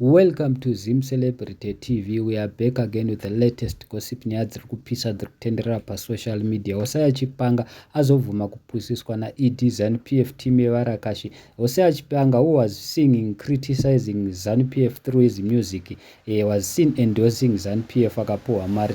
Welcome to Zim Celebrity TV. We are back again with the latest gossip nyaya dziri kupisa dziri kutenderera pasocial media. Hosea Chipanga azobvuma kupusiswa naED ZANU PF team yevarakashi. Hosea Chipanga who was singing criticizing ZANU PF through his music eh, was seen endorsing ZANU PF akapuhwa mari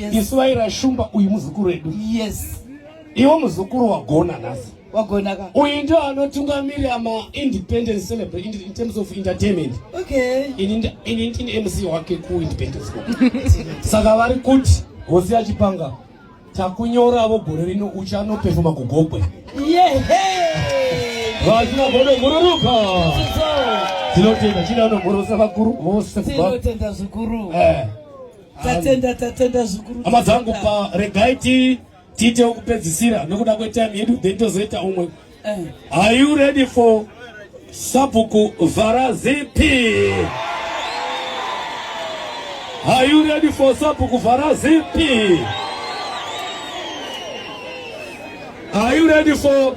yes. isu vaira shumba uyu muzukuru wedu yes iwo muzukuru wagona nhasi wagona ka uyu ndio anotungamirira maindependence celebrate in, in terms of entertainment okay ini ini ndini mc wake kuindependence saka vari kuti hosi yachipanga takunyoravo gore rino uchanopefoma kugogwe vachina godo gururuka tinotenda chidano gorosa vakuru vose tinotenda zvikuru eh. Tatenda tatenda zvikuru. Hama dzangu pa regai ti tiite wekupedzisira nokuda kwetime yedu then tozoita umwe. Eh. Are you ready for Sabuku Varazipi? Are you ready for Sabuku Varazipi? Are you ready for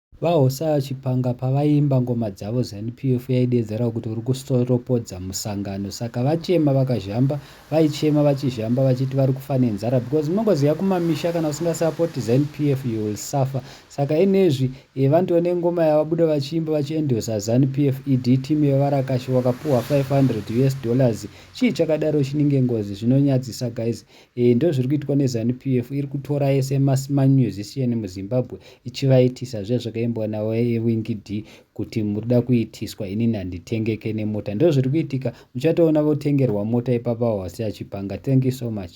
VaHosa Chipanga pavaiimba ngoma dzavo Zanu PF yaideedzerawo kuti uri kusoropodza musangano saka vachema vakazhamba vaichema vachizhamba vachiti vari kufa nenzara because unongoziva kumamisha kana usinga support Zanu PF you will suffer saka inezvi vandiwo nengoma yavabuda vachiimba vachi endorser Zanu PF ED team yevarakashi wakapuhwa 500 us dollars chii chakadaro chininge ngozi zvinonyadzisa guys Eeh ndozviri kuitwa ne zanu PF iri kutora ese ma musician mu Zimbabwe ichivaitisa zviya zvakaimbwa na wingd kuti muri kuda kuitiswa inini handitengeke ne mota ndozviri kuitika muchatoona votengerwa mota ipapa hwasi achipanga thank you so much.